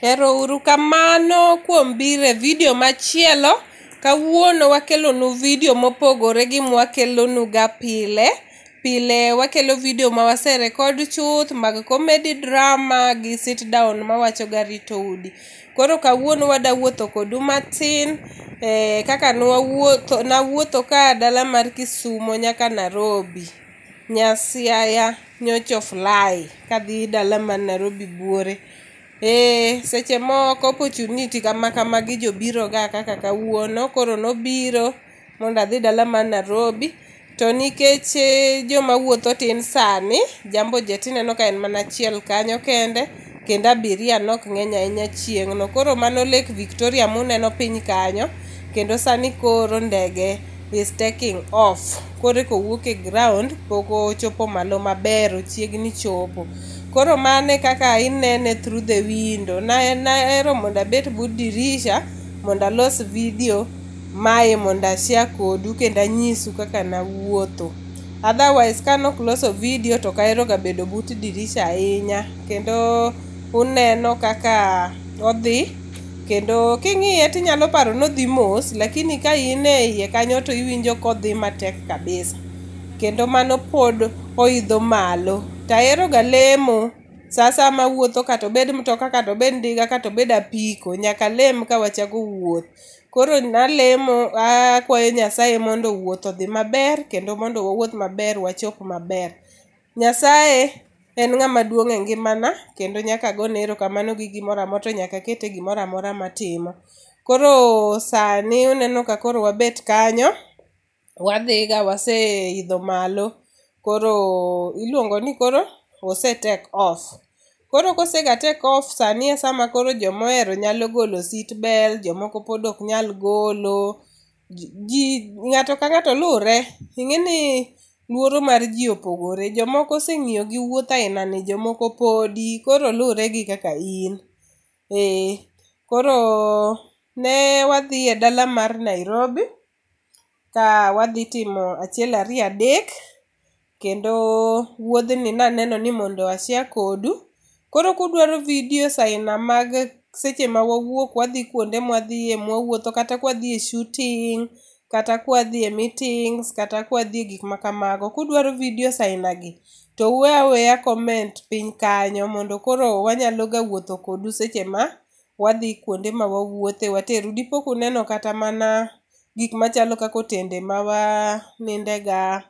Erouru kamano kuom biro e vidio machielo. Kawuono wakelonu vidio mopogore gi mwakelonuga pile. Pile wakelo vidio ma waserekod chuth mag comedy drama gi sit down mawachoga rito udi. Koro kawuono wada wuotho kodu matin eh, kaka nwawuotho nawuotho ka dala mar Kisumo nyaka Nairobi. Nyasiaya nyocha ofly kadhi dala ma Nairobi buore. Ee, seche moko opportunity kama kama gi jobiro ga kaka kawuono koro nobiro mondo adhi dala ma Nairobi to nikech eh, joma wuotho tin sani jambo jet ineno ka en mana achiel kanyo kende kendo abiria nok ng'eny ahinya chieng'no koro mano lake victoria muneno piny kanyo kendo sani koro ndege is taking off koro eko wuok e ground pok ochopo malo maber ochiegni chopo koro mane kaka inene through the window na naero mondo abet but dirisha mondo alos video mae mondo ashare kodu kendo anyisu kaka nawuotho Otherwise ka nok loso video to kaero ga bedo but dirisha ahinya kendo uneno kaka odhi kendo king'iye tinyalo paro nodhi mos lakini ka in e iye kanyo to iwinjo kodhi matek kabisa kendo mano pod oidho malo taero ga lemo sasa ma wuotho kata obed mtoka kata obed ndiga kata obed apiko nyaka lem ka wachako wuoth Koro nalemo akwayo Nyasaye mondo wuoth odhi maber kendo mondo wawuoth maber wachop maber. Nyasaye en ng'ama duong' e ngimana kendo nyaka agone erokamano gi gimoro amora to nyaka akete gimoro amora matimo. Koro sani uneno ka koro wabet kanyo wadhiga waseidho malo koro iluongo ni koro ose take off koro kosega take off sani e sama koro jomohero nyalo golo seat belt jomoko pod ok nyal golo ji- ji ng'ato ka ng'ato luwre ing'e ni luoro mar ji opogore jomoko oseng'iyo gi wuoth ainani jomoko podi koro luwre gi kaka in ee koro ne wadhi e dala mar nairobi ka wadhi timo achiel ariyo adek kendo wuodhni naneno ni mondo ashia kodu koro kudwaro vidio saina mag seche ma wawuok wadhi kuonde mwadhiye mwawuotho kata kwadhi e shooting kata kwadhi e meetings kata kwadhi e gik ma kamago kudwaro vidio sainagi to uwe aweya comment piny kanyo mondo koro wanyaloga wuotho kodu seche ma wadhi kuonde ma wawuothe wateru dipo kuneno kata mana gik machalo kaka otende ma wanindega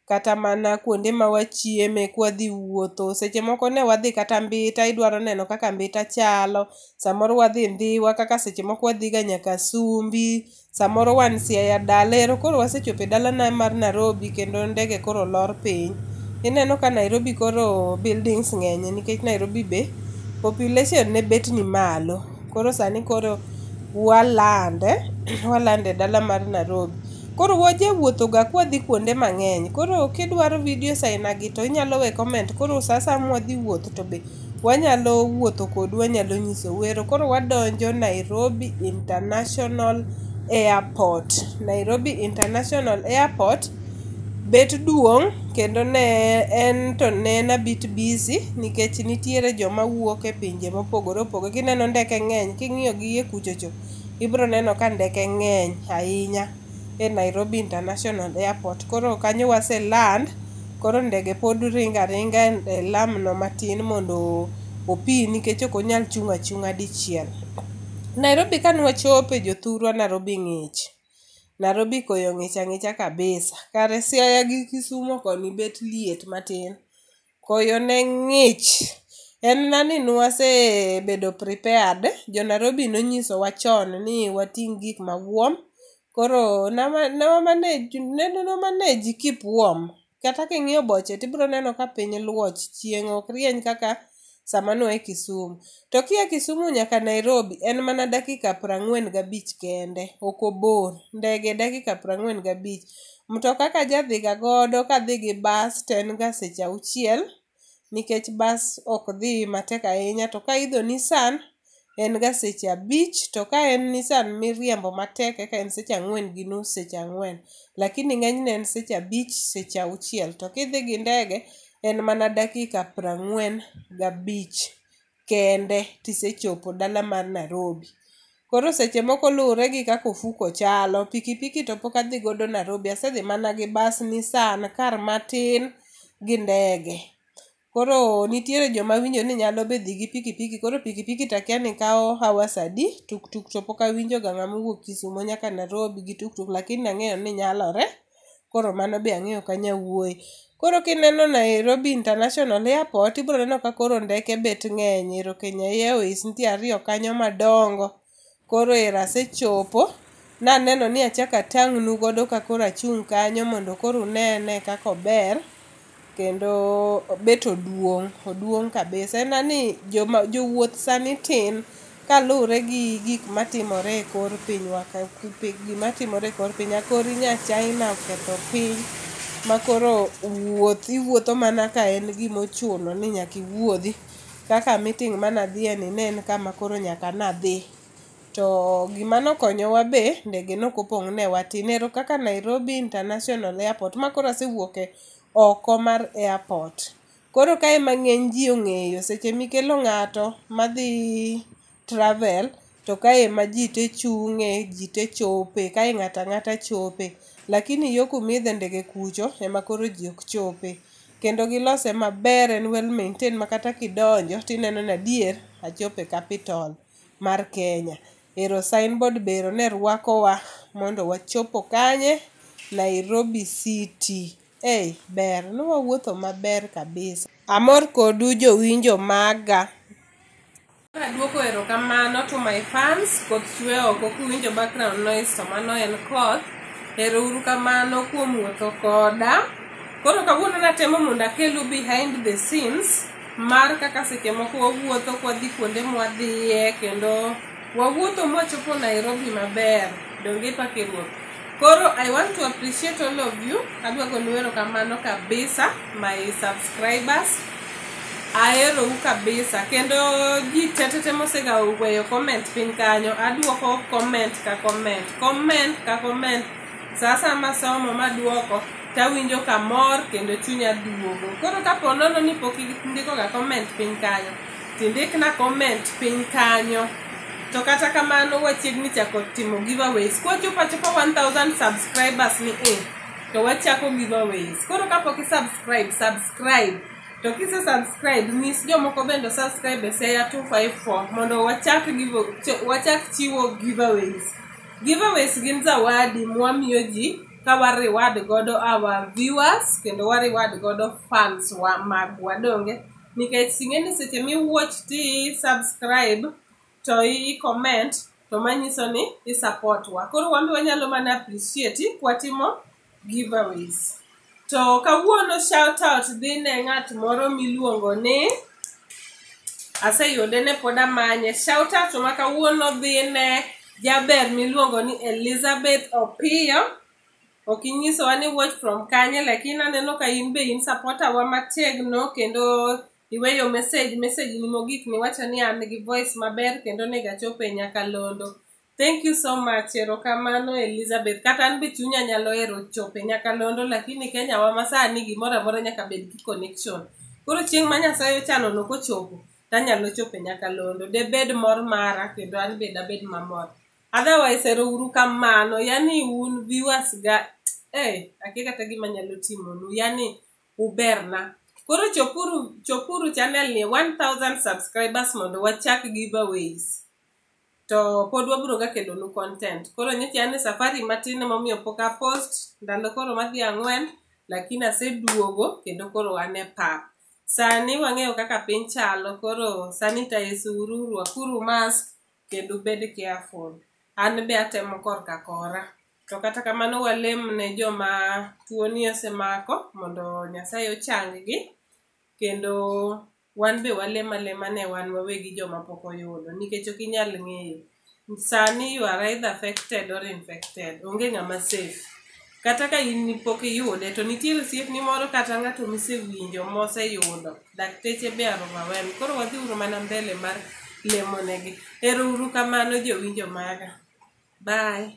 kata mana kuonde ma wachieme kwadhi wuotho seche moko ne wadhi kata mbita idwaro neno kaka mbita chalo samoro wadhi ndhiwa kaka seche moko wadhiga nyaka sumbi samoro wan Siaya dala ero koro wasechopo e dalana mar Nairobi kendo ndege koro lor piny. Ineno ka Nairobi koro buildings ng'enye nikech Nairobi be population ne bet ni malo. Koro sani koro walande, walande e dala mar Nairobi. Koro wajawuothoga kwadhi kuonde mang'eny. Koro kidwaro videos ainagi to inyalo we comment. Koro sa asaya mwadhi wuoth to be Wanyalo wuotho kodu wanyalo nyiso wero. Koro wadonjo Nairobi International Airport. Nairobi International Airport bet duong' kendo ne en to ne en a bit busy nikech nitiere joma wuok e pinje mopogore opogore. Kineno ndeke ng'eny king'iyo gi iye kuchocho ibro neno ka ndeke ng'eny ahinya. e Nairobi International Airport. Koro kanyo wase land, koro ndege pod ringo aringa e lam no matin mondo opi nikech ok onyal chung' achung'a dichiel. Nairobi kane wachope jothurwa Nairobi ng'ich. Nairobi koyo ng'ich ang'icha kabisa. Kare Siaya gi Kisumo koni bet liet matin. Koyo ne ng'ich. En na ni nwasebedo prepared. Jo Nairobi nonyisowa chon ni wating' gik ma warm. Koro nama nawa manage ne ne wa manage keep warm. Kata king'iyo boche tibro neno ka piny luoch, chieng' ok rieny kaka sama nwa e Kisumu. To kia Kisumu nyaka Nairobi en mana dakika prang'wen gabich kende, ok obor. Ndege dakika prang'wen gabich. Mtoka ka jadhiga godo kadhi gi bas to en ga seche auchiel nikech bas ok dhi matek ahinya to ka idho Nissan en ga seche abich to ka en Nissan miriembo matek eka en seche ang'wen gi nus seche ang'wen lakini ng'enyne en seche abich seche auchiel to kidhi gi ndege en mana dakika prang'wen gabich. kende tisechopo dala mar Narobi. Koro seche moko luwore gi kaka ofuko chalo, pikipiki to pok adhi godo Narobi, asedhi mana gi bas, Nissan, kar matin gi ndege. Koro nitiere joma winjo ni nyalo be dhi gi pikipiki, koro pikipiki to akia ni kawo hours adi, tuktuk to pok awinjoga ng'ama owuok Kisumo nyaka Narobi gi tuktuk lakini ang'eyo ni nyalore. koro mano be ang'eyo ka nyawuoyi koro kineno nairobi international airport ibiro neno ka koro ndeke bet ng'eny ero kenya airways nitie ariyo kanyo madongo koro ero asechopo naneno ni achako atang'nu godo ka koro achung' kanyo mondo koro unene kaka ober kendo bet oduong' oduong' kabisa en na ni joma jowuoth sani tin kaluwre gi gik matimore e kor pinywa ka kupe- gima timore e kor pinywa kori nya china oketho piny makoro wuoth iwuotho mana ka en gimochuno ni nyaka iwuodhi kaka meeting mana dhiye ni ne en kama koro nyaka nadhi. to gima nokonyowa be ndege nokopong' ne watin ero kaka Nairobi International Airport ma koro asewuok e oko mar airport koro ka ema ng'eny ji ong'eyo seche mikelo ng'ato madhi travel to ka ema ji te chung'e ji te chope kae ng'ato ang'ata chope lakini yo kumidhe ndege kucho ema koro ji ok chope kendo gilose maber en well maintained ma kata kidonjo tineno ni adier achopo e capital mar Kenya. Ero signboard be ero ne rwakowa mondo wachopo kanye? Nairobi City. Ei, ber, ne wawuotho maber kabisa. Amor kodu jowinjo maga. Aduoko erokamano to my fans koth chwe oko kuwinjo background noise to mano en koth. Ero uru kamano kuom wuotho koda. Koro kawuono natemo mondo akelu behind the scenes. mar kaka seche moko wawuotho kwadhi kuonde mwadhiye kendo wawuotho mwachopo nairobi maber donge pake ruoth koro i want to appreciate all of you adwa gonu erokamano kabisa my subscribers aherou kabisa kendo ji tetete mosega weyo comment piny kanyo aduoko comment ka comment comment ka comment saa saa masomo maduoko tawinjo kamor kendo chunya duogo koro kapo nono ni pok indikoga comment piny kanyo tindikna comment piny kanyo to kata kamano wachiegni chako timo giveaways kwachopo achopa 1000 subscribers ni e to wachako giveaways koro kapok isubscribe subscribe to kise subscribe nyis jomoko bende subscribe e seya 254 mondo wachak, give, wachak chiwo giveaways Giveaways gin zawadi mwamiyo ji ka wa reward godo our viewers kendo wa reward godo fans wa magwa donge nikech ing'e ni seche mi watch ti subscribe to i comment to manyiso ni i support wa koro wambe wanyalo mana appreciate kwatimo giveaways to kawuono shout out dhi ne ng'at moro miluongo ni aseyude ne pod amanye shout out ma kawuono dhi ne jaber miluongo ni elizabeth opiyo ok inyisowa ni watch from kanye lakini aneno ka in be in supporter wa mategno kendo iweyo message message ni mogik niwacho ni an gi voice maber kendo onego achope nyaka londo Thank you so much. Erokamano Elizabeth. Kata an be chunya nyalo hero chope nyaka londo lakini Kenya wa masani gimoro amora nyaka bed ki connection. Koro chieng' ma Nyasaye ochano no kochopo tanyalo chope nyaka londo. De bed mor mara kendo an be dabed mamor. Otherwise ero uru kamano. Yani un viewers ga eh ake kata gima nyalo timo nu. Yani uberna. Koro chopuru chopuru channel ni 1000 subscribers mondo wachak giveaways. to pod wabiro ga kelonu content koro nyocha an e safari matin emomiyo pok apost ndalo koro madhi ang'wen lakini aseduogo kendo koro an e pap sani wang'eyo kaka piny chalo koro sanitize uru rwakuru mask kendo bed careful an be atemo korka kora to kata kamano walem ne joma tuoni osemako mondo nyasaye ochanggi kendo Wan be walem alema ne wan wawegi joma pok oyudo nikech ok inyal ng'eyo. Sani you are either affected or infected. Onge ng'ama safe. Kata ka in pok iyude to nitie osiepni moro kata ng'ato misewinjo moseyudo. Dakteche be are overwhelmed. Koro wadhi uru mana mbele mar lemo negi. Ero uru kamano jowinjo maga. Bye.